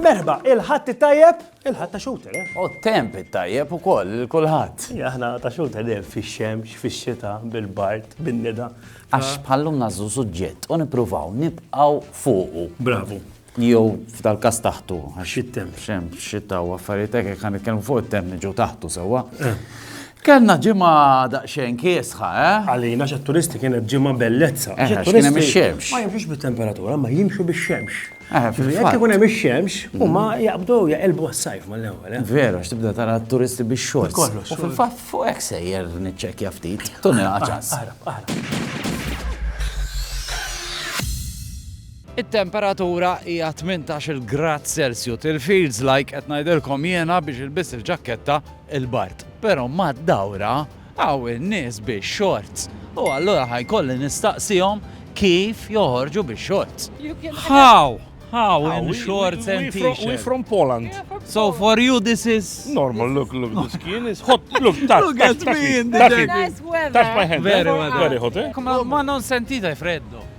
Merba, il-ħadd it-tajjeb, il-ħadd ta' xuter, eh? U temp it-tajjeb u koll, il-kulħadd. Aħna ta' xuter dejjem fix-xemx, fix-xita, bil-bart, bin-nida. Għax bħallum nażu suġġett u nippruvaw nibqgħu fuqu. Bravu. Jew f'dal-każ taħtu. Xit-temp. Xem, xita u affarijiet hekk jekk ħanitkellmu fuq it-temp niġu taħtu sewwa. Kellna ġimgħa daqsxejn kiesħa, eh? Għalina xat-turisti kienet ġimgħa bellezza. Eh, għax kien hemm ix-xemx. Ma jimxux bit-temperatura, ma jimxu bix-xemx. Eh, fil-fatt. Jekk ikun hemm ix-xemx, huma jaqbdu jaqilbu għas-sajf mal-ewwel. eh? Vera, għax tibda tara t-turisti biex xorts. Kollox, U fil-fatt fuq hekk sejjer niċċekkja ftit. Tunni ċans. Aħrab, aħrab. It-temperatura hija tmintax-il grad Celsiut, il feels like qed ngħidilkom jiena biex ilbiss il-ġakketta il-bard. Però mad-dawra hawn in-nies bix-shorts u allura ħa jkolli nistaqsihom kif joħorġu bix-shorts. How? How in shorts and t-shirt? We from Poland. So for you this is? Normal, look, look, the skin is hot. Look, touch, Look at me in the jacket. Touch my hand. Very well. Very hot, eh? Ma non sentite freddo.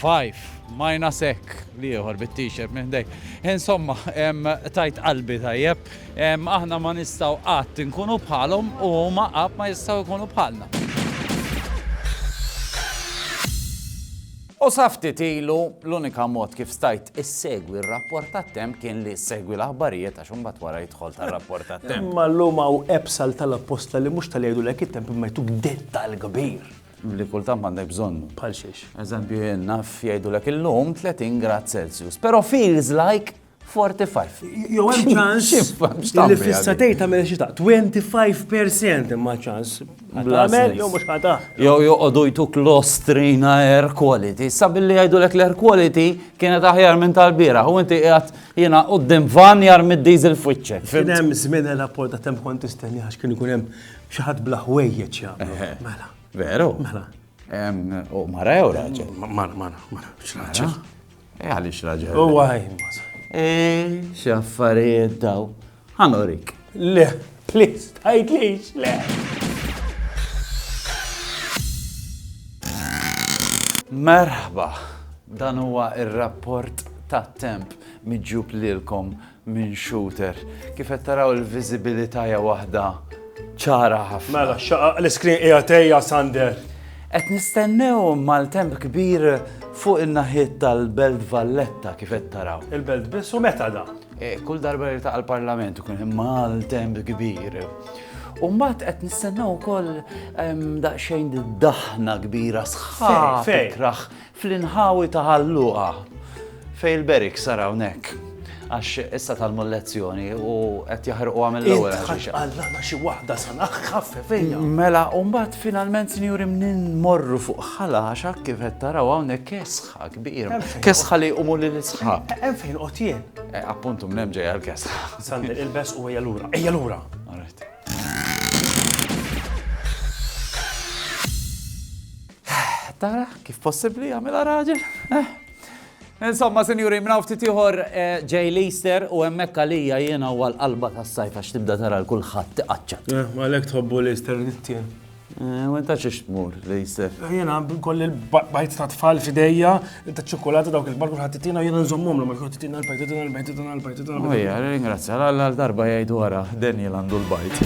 Five, Minus hekk, l-ieħor bit-t-shirt minn ħdejk. Insomma, tajt qalbi tajjeb. Aħna ma nistgħu qatt inkunu bħalhom u huma qatt ma jistgħu jkunu bħalna. U sa ftit ilu, l-unika mod kif stajt issegwi r-rapport tat-temp kien li ssegwi l-aħbarijiet għax imbagħad wara jidħol tar-rapport tat-temp. Imma llum hawn apps għal tal-apposta li mhux tal-jgħidulek it-temp imma jtuk dettal kbir. li kultant m'għandek bżonnu. Bħal xiex? Eżempju jien naf jgħidulek illum 30 grad Celsius, però feels like 45. Jew hemm ċans li fissa tgħid tagħmel xi ta' 25% imma ċans. Tagħmel jew mhux ħata. Jew joqogħdu jtuk l-ostrin air quality. Sa billi jgħidulek l-air quality kienet aħjar minn tal-bira. U inti qiegħed jiena qudiem van jar mid-diesel fwiċċek. Kien hemm żmien l-apport ta' temp kont tistenni għax kien ikun hemm Xi ħadd bla ħwejjeġ jagħmlu. Mela. Veru? Mela. U mara jew raġel? Mara, mara, mara. X'raġel? Eh, għaliex raġel. U għaj, maża. Eh, x'affarijiet daw. Ħanorik. Le, please, tajtlix, le. Merħba, dan huwa ir-rapport ta' temp miġjub lilkom minn shooter. Kif qed taraw il-viżibilità hija waħda ċara ħafna. Mela, xaqaq l-iskrin qiegħed ejja Sander. Qed nistennew maltemp kbir fuq in-naħiet tal-Belt Valletta kif qed taraw. Il-Belt biss u meta da? E, kull darba li taqa' l-Parlament ikun hemm maltemp kbir. U mbagħad qed nistennew ukoll daqsxejn daħna kbira sħab tikraħ Fl-inħawi ta' Ħal Luqa, fejn il-barracks ara hawnhekk, għax issa talmu l-lezzjoni u qed jaħrquha mill-ewwel ħaġiġa. Allana xi waħda sanaħ ħaffe fejja. Mela, u mbagħad finalment sinjuri mnin morru fuq ħalaxa kif qed taraw hawnhekk kesħa kbira. Kesħa li jqumu lil isħab. Hemm fejn qod jien. E, appuntu minn hemm ġejja l-kesħa. Sandi il-bes u ejja lura. Ejja lura. Tara kif possibbli jagħmilha raġel? Insomma, sinjuri, mnaw ftit ieħor ġej l-Easter u hemmhekk għalija jiena u għall-qalba tas-sajf għax tibda tara l-kulħadd tiqaċċat. Għalhekk tħobbu l-Easter nittien. U inta xiex tmur l-Easter? Jiena koll il-bajt ta' tfal f'idejja, ta' ċokolata dawk il-bar kulħadd titina jiena nżommhom l-ma jkun titina l-bajt, titina l-bajt, titina l-bajt, titina l-bajt. Ejja, ringrazzja, għal darba jgħidu wara, Daniel għandu l-bajt.